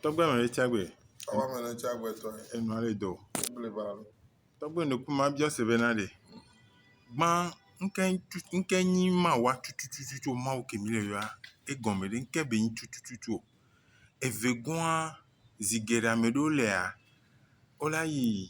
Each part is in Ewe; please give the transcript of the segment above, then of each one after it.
Tɔgbe me ɖe tsa gbe. Awa me ɖe tsa gbe tɔ. Enu ale do. Wobli ba lo. Tɔgbe nu kuma bia se be na ɖe. Gba nke nke nyi ma wa tutututu ma wo kemi le yoa. E gɔme ɖe nke be nyi tutututu. Eve gua zigera me ɖo lea. Ola yi.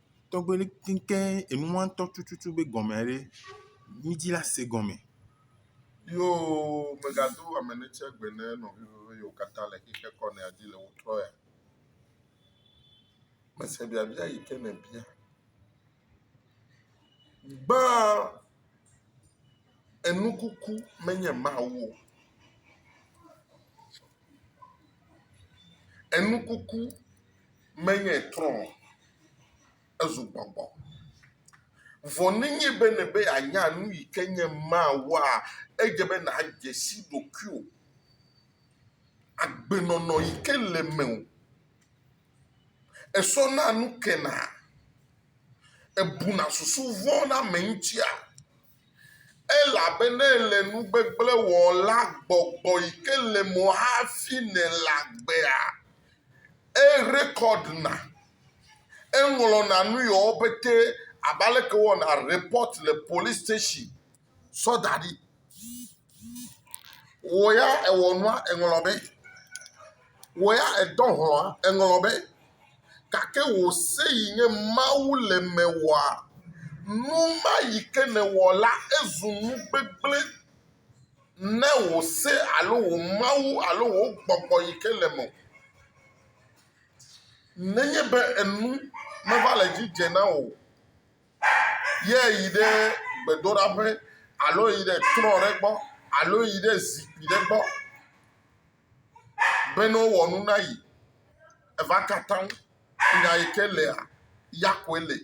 tɔgbe ɖe keŋkeŋ enua ŋutɔ tututu be gɔme ɖe mídzi la se gɔme. Yoo megado ame ɖe tsɛ gbe ne nɔviwò yiwo katã le xexe kɔ nɛa dzi le wotrɔ ya. Mese biabia yi ke nèbia. Gbãa enukuku menye Mawu o. Enu kuku menye trɔ o, ezu gbɔgbɔ. Vɔ nenye be nèbe yeanya nu yi ke nye Mawua, edze be nàdze si ɖokuiwò, agbenɔnɔ yi ke le mewò. Esɔna nu kena? Ebuna susu vɔ̃ na ame ŋutia? Elabena ele nu gbegblẽ wɔm la, gbɔgbɔ yi ke le mo hafi nɛ le agbea. Erekɔdna, eŋlɔna nu yewo pete abe aleke wowɔna repɔt le polisi station zɔ da ɖi. Wò ya èwɔ nua, èŋlɔ be. Wò ya èdɔ hlɔ̃a, èŋlɔ be. Gake wò se yi nye Mawu le mewɔa? Nu ma yi ke nèwɔ la, ezu nu gbegblẽ ne wò se alo wò Mawu alo wò gbɔgbɔ yi ke le mewò. Nenye be enu meva le edzi dze na wò o. ye yi ɖe gbedoɖaƒe alo yi ɖe trɔ̃ ɖe gbɔ alo yi ɖe zikpui ɖe gbɔ be ne wowɔ nu na yi. Eva katã nya yi ke lea, ya koe li.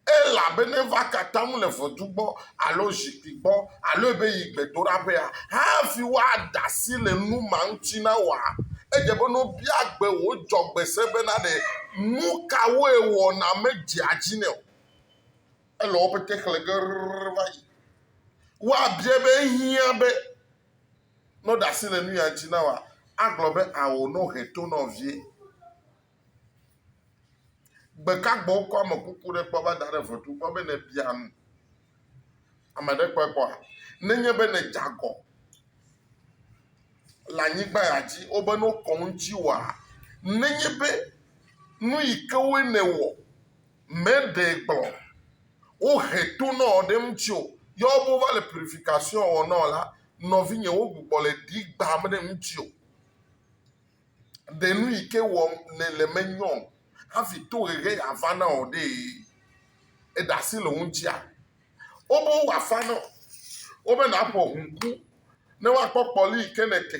Elabena eva katã le ʋedu gbɔ alo zikpui gbɔ. alo ebe yi gbedoɖaƒea hafi woaɖe asi le nu ma ŋuti na wòa? Edze be ne wobia gbe wò dzɔgbe se bena ɖe nu kawoe wɔna medzea dzi nɛ o. Ele woƒe te xlẽ ge rrrr va yi. Woabiae be, Ehiã be ne woɖe asi le nu ya ŋuti na wòa? Agblɔ be, Ao, ne wohe to nɔvie. Ɖeka gbɔ wokɔ amekuku ɖe kpɔ va da ɖe ʋetu gbɔ be ne bia nu. Ame ɖe kpɔe kpɔa? Ne nye be ne dze agɔ le anyigba ya dzi wobe ne wokɔ ŋuti wɔa, ne nye be nu yi ke wo ne wɔ me ɖe gblɔ wohe to nɔ ɖe ŋuti o, ya wo be wova le purification wɔ nɔ la, nɔvinye wo gbugbɔ le ɖi gbam ɖe ŋuti o. Ɖe nu yi ke wɔm nèle menyɔ hafi tohehe yeava na wò ɖee? Èɖe asi le wo ŋutia? Wobe wowɔ afa na wò, wobe nàƒo ʋu ŋku ne woakpɔ kpɔli yi ke nète.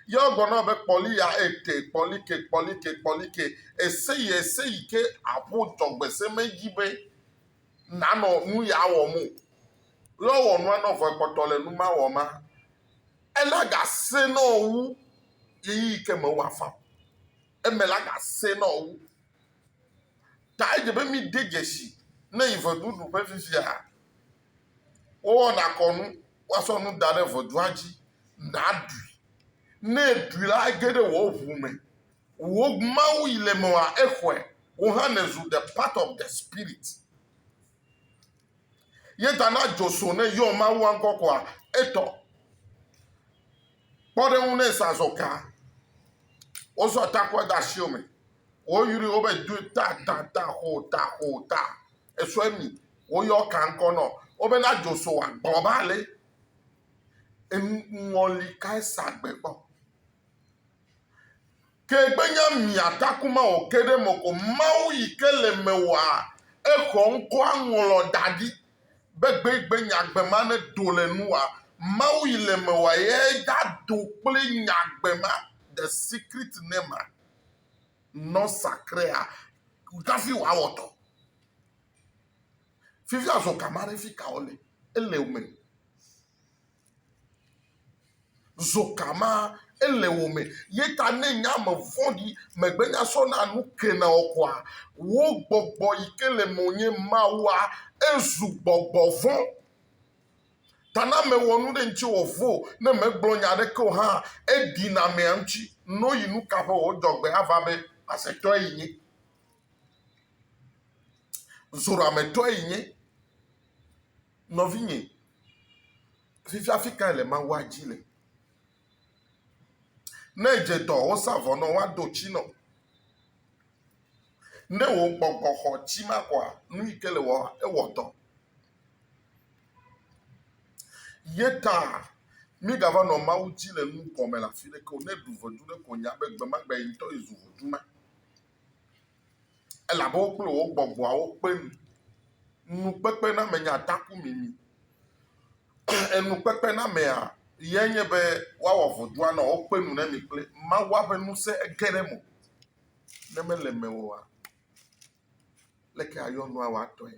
Ye wogblɔ na wò be, Kpɔli ya ète, kpɔli ke, kpɔli ke, kpɔli ke. Èse yi, èse yi ke àƒo dzɔgbeseme dzi be nànɔ nu ya wɔm o. Lé wowɔ nua nɔ vɔ ekpɔtɔ le nu ma wɔm ma. Ela gasẽ nɔ wo wu ɣeyiɣi ke me woafa o. Eme la gasẽ nɔ wo wu. Ta edze be mide dzesi ne yi ʋeɖuɖu ƒe fifia. Wowɔna kɔnu, woasɔ nu da ɖe ʋeɖua dzi, nàɖui. Ne èɖui la, ege ɖe wò ʋu me. Wò Mawu yi le mewoa, exɔe. Wò hã nèzu the part of the Spirit. Ye ta na dzo so ne yɔ Mawua ŋkɔ koa etɔ. Kpɔ ɖe ŋu ne zã zɔ ka. Wozɔ takua da asi wo me. Woyri wo be do ta ta ta xo ta xo ta. Esɔ emi. Woyɔ ka ŋkɔ nɔ. Wo be na dzo so wa gbɔ ba le. Eŋɔli ka esa gbe gbɔ. Ke gbe nya mia taku ma o ke ɖe meko Mawu yi ke le me wɔa exɔ ŋkɔa ŋlɔ da ɖi be gbe gbe nya gbe ma ne do le nu wɔa Mawu yi le me wɔa ye da do kple nya gbe ma the secret ne ma nɔ sakrea hafi wa wɔ tɔ fifia zɔ ka ma ɖe fi ka o le ele me. Zoka ma ele wò me. Ye ta ne nye ame vɔ̃ɖi, megbenya sɔna nu kena o koa? Wò gbɔgbɔ yi ke le menye, Mawua, ezu gbɔgbɔ vɔ̃. Ta na mewɔ nu ɖe ŋuti wòvo, ne megblɔ nya aɖeke o hã, eɖi na amea ŋuti. No yi nu ka ƒe wò dzɔgbe ava be, Asetɔe yi nye. Zorametɔe yi nye. Nɔvinye, fifia afi kae le Mawua dzi le? Ne edze dɔ wosa vɔ nɔ woado tsi nɔ. Ne wò gbɔgbɔ xɔ tsi ma kɔa, nu yi ke le wɔ ewɔ dɔ. Ye ta mígava nɔ Mawu dzi le nu gɔme le afi ɖeke o. Ne ɖu ʋɔdu ɖe ko nya be gbe ma gbe ye ŋutɔ yi zu ʋɔdu ma. Elabe wo kple wò gbɔgbɔawo kpe nu. Nukpekpenamenyea taku mimi. Enukpekpenameya yae nye be woawɔ vodua nɔ wo kpe nu ne mi kple Mawua ƒe ŋusẽ ege ɖe eme o. Ne mele mewò oa, leke ayɔ nua wòatɔe?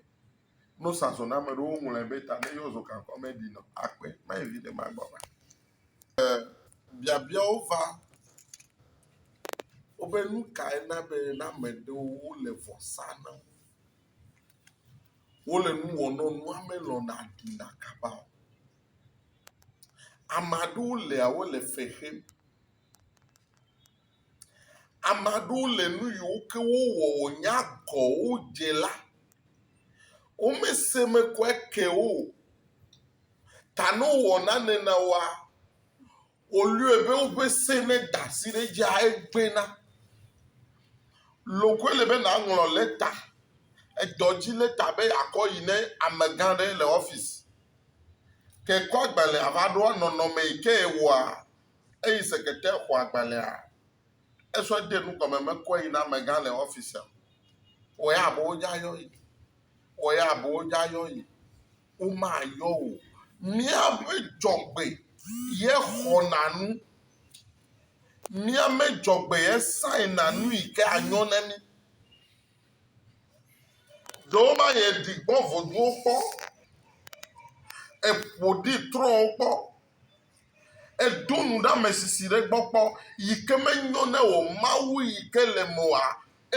No sa zɔna ame ɖewo ŋlɔe be ta ne yɔ zɔ kankɔ me ɖi nɔ akpe ma yi vi ɖe ma gbɔ ma. E biabiawo va wobe nu kae na be na ame ɖewo wole vɔ sa na wo. Wole nu wɔ nɔ nua me lɔ na ɖi na kaba o. Ame aɖewo lea wole fe xem. Ame aɖewo le nu yiwo ke wowɔ wònya gɔ wo dze la, womese me kɔe ke o. Ta ne wowɔ nane na woa, wolɔ̃e be woƒe se neda asi ɖe edzia egbea na. Lɔ̃ koe le be nàŋlɔ lɛta, edɔdzi lɛta be yeakɔ yi ne amegã aɖe le ɔfisi. Ke kɔ agbalẽa va ɖoa nɔnɔme yi ke wòa? Eyi sekretɛr xɔ agbalẽa. Esɔ de nu gɔme mekɔe yi na amegã le ɔfisia o. Wɔ ya abe wodza yɔ yi. Wɔ ya abe wodza yɔ yi. Womayɔ wò o. Míaƒe dzɔgbe ye xɔna nu. Míame dzɔgbe ye sign na nu yi ke anyo ne mí. Ɖewo ma yɛ ɖi gbɔ voduwo kpɔ. Eƒo ɖi trɔwo kpɔ. Èdo nuɖamesisi ɖe egbɔ kpɔ yi ke menyo na wò Mawu yi ke le eme oa?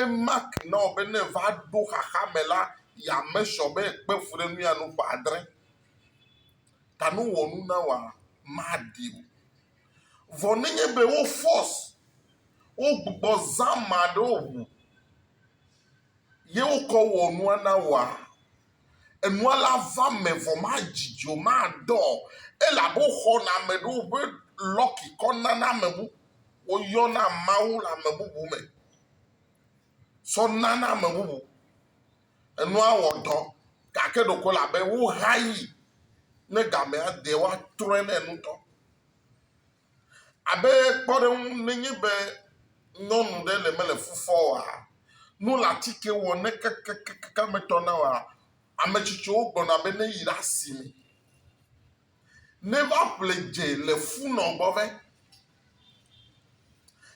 Emak na wò be ne èva ɖo xaxa me la, yeamake sure be èkpe fuɖenu ya nu ƒe adre. Ta ne wowɔ nu na wòa, maɖi o. Vɔ nenye be wo force, wogbugbɔ zã ame aɖewo ŋu ye wokɔ wɔ nua na wòa, Enua la va me vɔ madzi dzi o, madɔ o elabe woxɔna ame ɖewo ƒe lɔki kɔna na ame bubu. Woyɔna Mawu le ame bubu me tsɔ nana ame bubu. Enua wɔ dɔ gake ɖeko ele abe wohayi ne gamea de woatrɔe nɛ ŋutɔ. Abe kpɔɖeŋu, nenye be nyɔnu ɖe le mele fu fɔ oa, nu le atike wɔ ne kekekeke metɔ na oa, ame tsitsiwo gblɔna be ne yi ɖe asime ne va ƒle dze le fu nɔ gbɔ vɛ.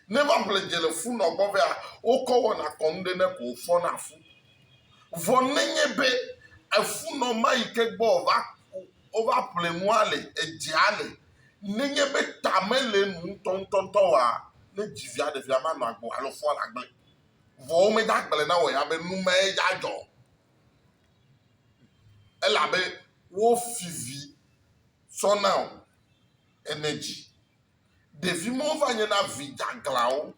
Ne va ƒle dze le fu nɔ gbɔ vɛa, wokɔ wɔna kɔnu ɖe ne ko wokpɔna fu. Vɔ nenye be efunɔma yi ke gbɔ wòva wova ƒle nua le edzea le nenye be ta mele enu ŋutɔŋutɔ oa, ne dzi via ɖe via manɔ agbe o alo foa nagblẽ. Vɔ womede agble na wò ya be nu mae dze adzɔ o, elabe wofi vi tsɔ na wò ene dzi. Ɖevi mawo va nyena vi dzeaglãwo.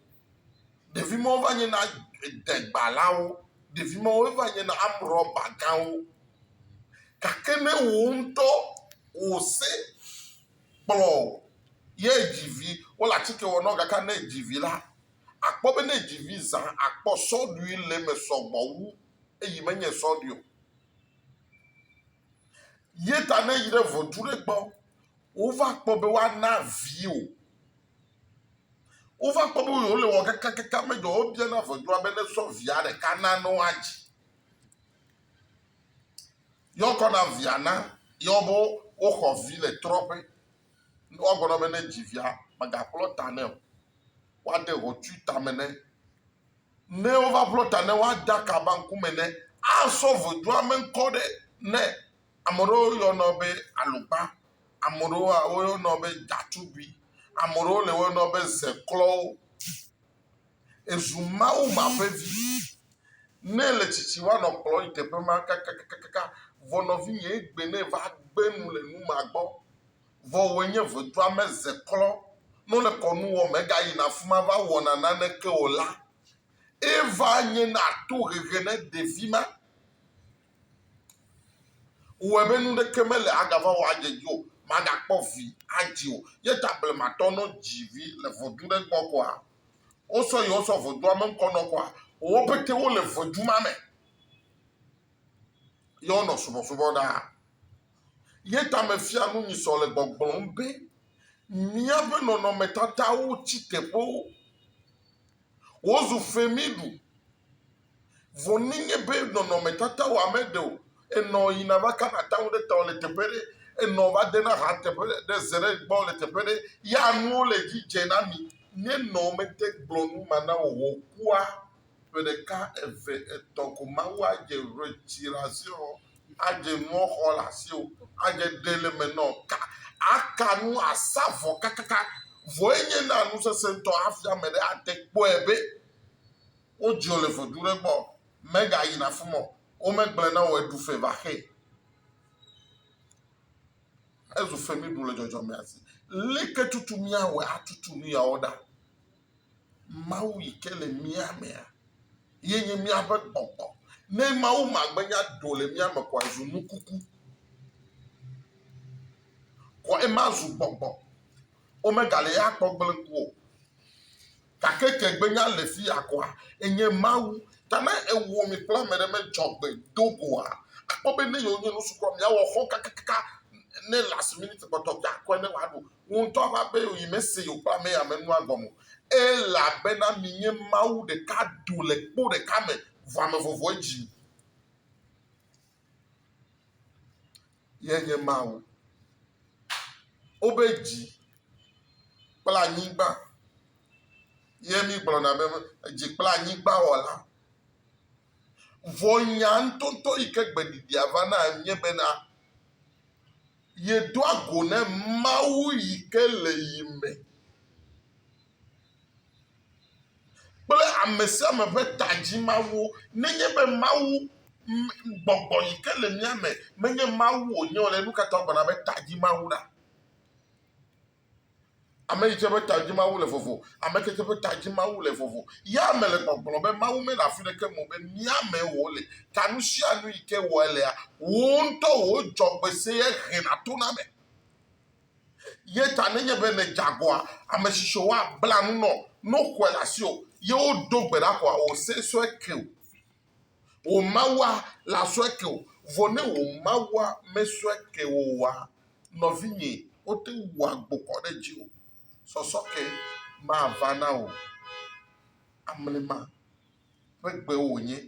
Ɖevi mawo va nye na degbalawo, ɖevi mawo va nye na amrɔba gãwo. Gake ne wò ŋutɔ wò se kplɔ ye dzi vi, wole atike wɔ na wo gake ne edzi vi la, àkpɔ be ne edzi vi zã akpɔ sɔɖui le eme sɔgbɔ wu eyi menye sɔɖui o. Ye ta ne eyi ɖe ŋɔtru ɖe gbɔ, wova kpɔ be woana viwò. Wova kpɔ be wole wɔ kakakaka medzɔ. Wobia na ʋɔnudrɔ̃la be nesɔ via ɖeka na ne woadzi. Ye wokɔ na via na ye wo be woxɔ vi le trɔ̃ƒe. Woagblɔ be ne dzi via mègaƒlɔ ta nɛ o. Woade ʋɔtru tame nɛ. Ne wova ƒlɔ ta nɛ woade akaba ŋkume nɛ. Asɔ ʋɔnudrɔ̃la ƒe ŋkɔ ɖe nɛ. Ame aɖewo yɔnɛ be alogba. Ame ɖewoa, woyɔnɔ be ɖatugbi. Ame ɖewo le woyɔnɔ be zeklɔwo. Ezu Mawu ma ƒe vi. Ne ele tsitsi woanɔ kplɔ yi teƒe ma kakakakaka. Vɔ nɔvinye egbe ne va gbe nu le nu ma gbɔ. Vɔ wòe nye vodua me zeklɔ. Ne wole kɔnu wɔm egayina afi ma va wɔna naneke o la, eva nye na tohehe na ɖevi ma. Wɔe be nu ɖeke mele agava wɔ adze edzi o, magakpɔ vi adzi o. Ye ta blematɔ nɔ dzi vi le vodzu ɖe gbɔ koa? Wosɔ yewo sɔ vodua me ŋkɔ nɔ koa? Wo pete wole vodzu ma me. Ye wonɔ subɔsubɔ ɖaa. Ye ta mefia nu nyi sɔ le gbɔgblɔm be, Míaƒe nɔnɔmetatawo tsi teƒewo. Wozu femiɖu. Vɔ nenye be nɔnɔmetata wɔ ame ɖe o, enɔ yina va kana taŋu ɖe tɔ le teƒe ɖe, enɔ va dena ha teƒe ɖe ze ɖe gbɔ le teƒe ɖe, ya nuwo le edzi dze na mi. Nenɔ mete gblɔ nu ma na wò o kua, ƒe ɖeka, eve, etɔ̃ ko Mawu adze ʋetsiɖazeɔ, Adze nuɔ xɔ le asiwò, adze ɖe le me nɔ ka, aka nu, asa vɔ kakaka. Vɔ ye nye na nu sese ŋtɔ hafi ame ɖe ate kpɔɛ be wo dziɔ le ƒedu ɖe gbɔ o. Mega yina fima o, wo me gblɔɛ na wò eɖu fe va xe. Ezu fe mi ɖu le dzɔdzɔmea si. Leke tutu mia wɛ atutu nuyawo ɖa? Mawu yi ke le mía mea, ye nye míaƒe gbɔgbɔ. Ne Mawu magbenya do le mía me koa, zu nu kuku. Kɔ ema zu gbɔgbɔ. Womegale ya kpɔ gblẽ ku o. Gake ke gbenya le fi ya koa, enye Mawu. Ta ne ewɔ mi kple ame ɖe medzɔ gbe do goa, akpɔ be ne yewonye nusukɔ, miawɔ xɔ kakakaka ne last minute kpɔtɔ be akɔe ne wòaɖu. Wò ŋutɔ ƒe aƒee wòyi, mese yewoƒe amee ame nua gɔme o. Elabena minye mawu ɖeka do le kpo ɖeka me, vɔ ame vovovoe dzi mi. Ye nye Mawu. Wobe dzi kple anyigba ye migblɔna be dzi kple anyigba wɔla. Vɔ nya ŋutɔŋutɔ yi ke gbeɖiɖia va na enye bena Yedoa go ne Mawu yi ke le yi me kple ame sia ame ƒe tadzimawo. Nenye be Mawu gbɔgbɔ yi ke le mía me menye Mawu wònye o la, nu ka ta wogblɔna be tadzimawu ɖa? Ame tsitsi ƒe ta dzi Mawu le vovo. Ame tsitsi ƒe ta dzi Mawu le vovo. Ya me le gbɔgblɔm be Mawu mele afi ɖeke me o be mía mee wòle. Ta nu sia nu yi ke wɔe lea, wò ŋutɔ wò dzɔgbesee hena tona eme. Ye ta nenye be nèdze agɔa, ame tsitsi woabla nu nɔ, ne woxɔe le asiwò, ye wodo gbe ɖa koa, wò se sue ke o. Wò Mawua lasɔe ke wò. Vɔ ne wò Mawua mesɔe ke wò oa, nɔvinye, wote ŋu wua gbokɔ ɖe dziwò. Sɔsɔ ke mava na wò o. Amlima ƒe gbe wònye.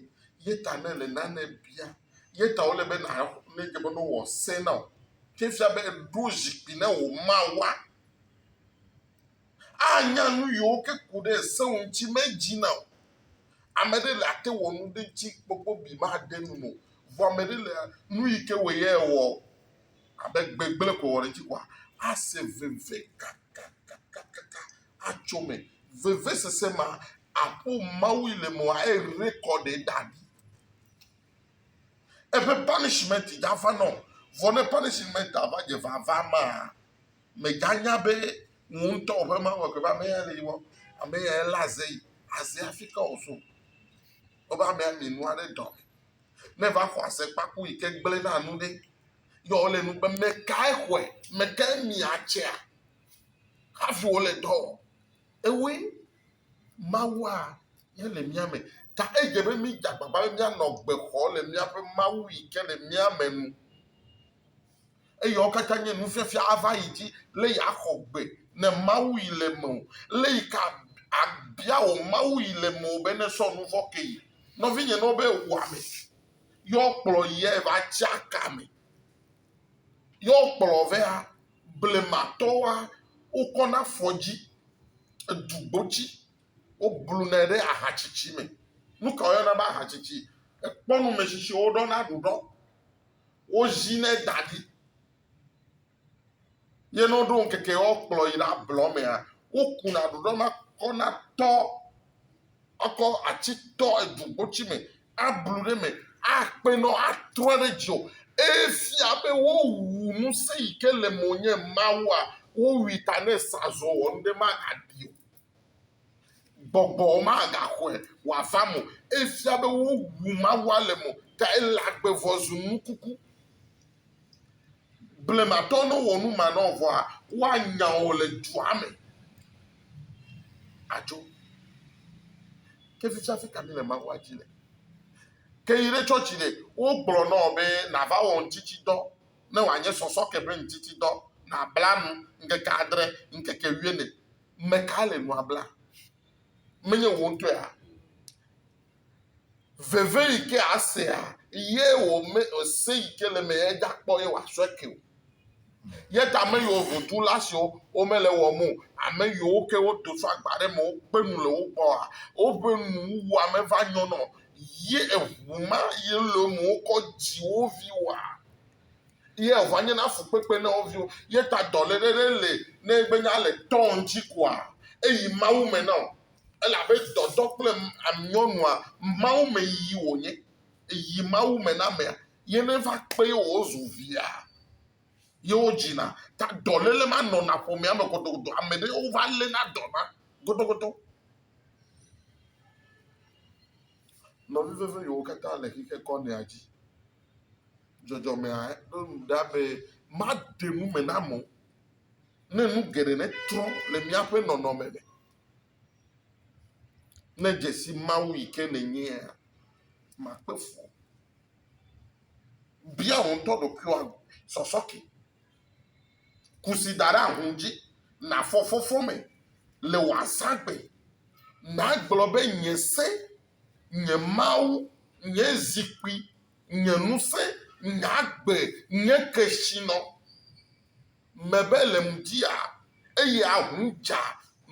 Ye ta ne èle nane bia, ye ta wòle be na, ne edze be ne wòwɔ se na wò. Ke fia be èɖo zikpui na wò Mawua. Anya nu yiwo ke ku ɖe ese ŋuti medzi na o. Ame ɖe le ate wɔ nu ɖe ŋuti kpɔkpɔ bi made nu me o. Vɔ ame ɖe le nu yi ke wɔ ye wɔ abe gbegblẽ ko wɔ ɖe ŋuti kɔa, ase veve kakakakaka atso me. Vevesese ma aƒo Mawu yi le me wòa a rekɔɖe da ɖi. Eƒe panisimɛnti dza va na o. Vɔ ne panisimɛntia va dze vava mea, mèganya be wò ŋutɔ wò ƒe Mawu ƒe ame yae le yi wɔm. Ame yae lé aze yi. Azea hafi ke wòzũ. Wobe amea mi nua ɖe dɔ me. Ne eva xɔ azekpaku yi ke gblẽna nu ɖe, ye wòle nu be, Mèkae xɔe? Mèkae mia atsea? Hafi wòle dɔ wɔm. Ewoe Mawua ye le mía me. Ta edze be mídze agbagba be míanɔ gbe xɔm le míaƒe Mawu yi ke le mía me nu. Eyawo katã nye nufiafia ava yi dzi lé yi axɔ gbe ne Mawu yi le me o, lé yi ka abia wò Mawu yi le me o be ne sɔ nu vɔ̃ ke yi. Nɔvinye ne wobe wò ame yɔ kplɔ yɛ va tsia ka me yɔ kplɔ vea blema tɔ wa wo kɔ na fɔ dzi edu gbo tsi wo blu nɛ ɖe ahatsitsi me. Nuka wo yɔna be ahatsitsi? Ekpɔ nu me tsitsi wo ɖɔ na ɖuɖɔ Wozinɛ da ɖi ye ne woɖo ŋkeke woakplɔ yi ɖe ablɔ mea, wokuna ɖoɖɔ na kɔ na tɔ ekɔ atsi tɔ edzogbotsi me ablu ɖe me akpe nɔ atrɔ ɖe dzi o. Eye fia be wowu ŋusẽ yi ke le mo nye Mawua, wowui ta ne sazɔ wɔ nu ɖe magaɖi o. Gbɔgbɔ magaxɔe wòava me o. Efia be wowu Mawua le mo ta ele agbe vɔ zu nukuku. Blematɔ ne wɔ nu ma nɔ vɔa, woanya wò le dua me adzo. Ke fifia afi ka míle Mawua dzi le? Ke yi ɖe tsɔtsi ɖe, wogblɔ nɔ wò be nàva wɔ ŋtitsidɔ ne wòanye sɔsɔke ƒe ŋtitsidɔ, nàbla nu ŋkeke adre, ŋkeke wuiene Me kae le nua blam? Menye wò ŋutɔea? Veve yi ke asea ye wòme ese yi ke le me ye da kpɔ ye wòasɔe ke o. Ye ta ame yiwo vodula siwo womele wɔm o, ame yiwo ke wodo tso agba ɖe me wokpe nu le wo gbɔa, woƒe nuwuwua meva nyɔna o. Ye eŋu ma ye le eme wokɔ dzi wo viwoa? Ye eva nye na fukpekpe ne wo viwo. Ye ta dɔléle ɖe le ne egbe nye ale tɔ ŋtsi koa eyi Mawu me na o. Elabe dɔdɔ kple amyɔnua Mawu me yiyi wo nye. Eyi Mawu me na amea ye ne va kpe ye wo zu via ye wo dzi na. Ta dɔléle ma nɔna ƒomea me godogodo. Ame ɖe wo va le na dɔ ma godogodo. Nɔvi veve yiwo kata le xixekɔ nɛa dzi. dzɔdzɔmea ɖo nu ɖa be maɖe nu me na amewo ne nu geɖe netrɔ le míaƒe nɔnɔme me. Ne dzesi Mawu yi ke nènyea, makpe fu. Bia wò ŋutɔ ɖokuiwò sɔsɔke. Ku si da ɖe ahũ dzi, nàfɔ fɔfɔ me le wò azãgbe. Nàgblɔ be, Nye se, nye Mawu, nye zikpui Nye ŋusẽ, nye agbe, nye kesinɔ. Mebe le ŋdia, eye aʋu dza,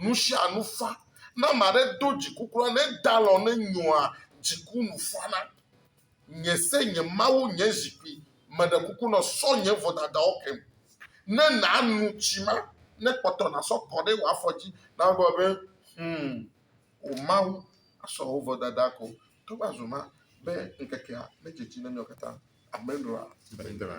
nu sia nu fa. Ne ame aɖe do dziku kura, ne eda alɔ ne nyɔa, dziku nu fana. Nye se, nye Mawu, nye zikpui, meɖe kuku nɔ, sɔ nye vodadawo kem. Ne nànu tsi ma, ne kpɔtɔ nàsɔ kɔ ɖe wò afɔ dzi, nàgblɔ be, Hum, wò Mawu asɔ wò vodada ko. Togbɔ azɔ ma be ŋkekea medzedzi na mí o katã, Amendroa gblɔe.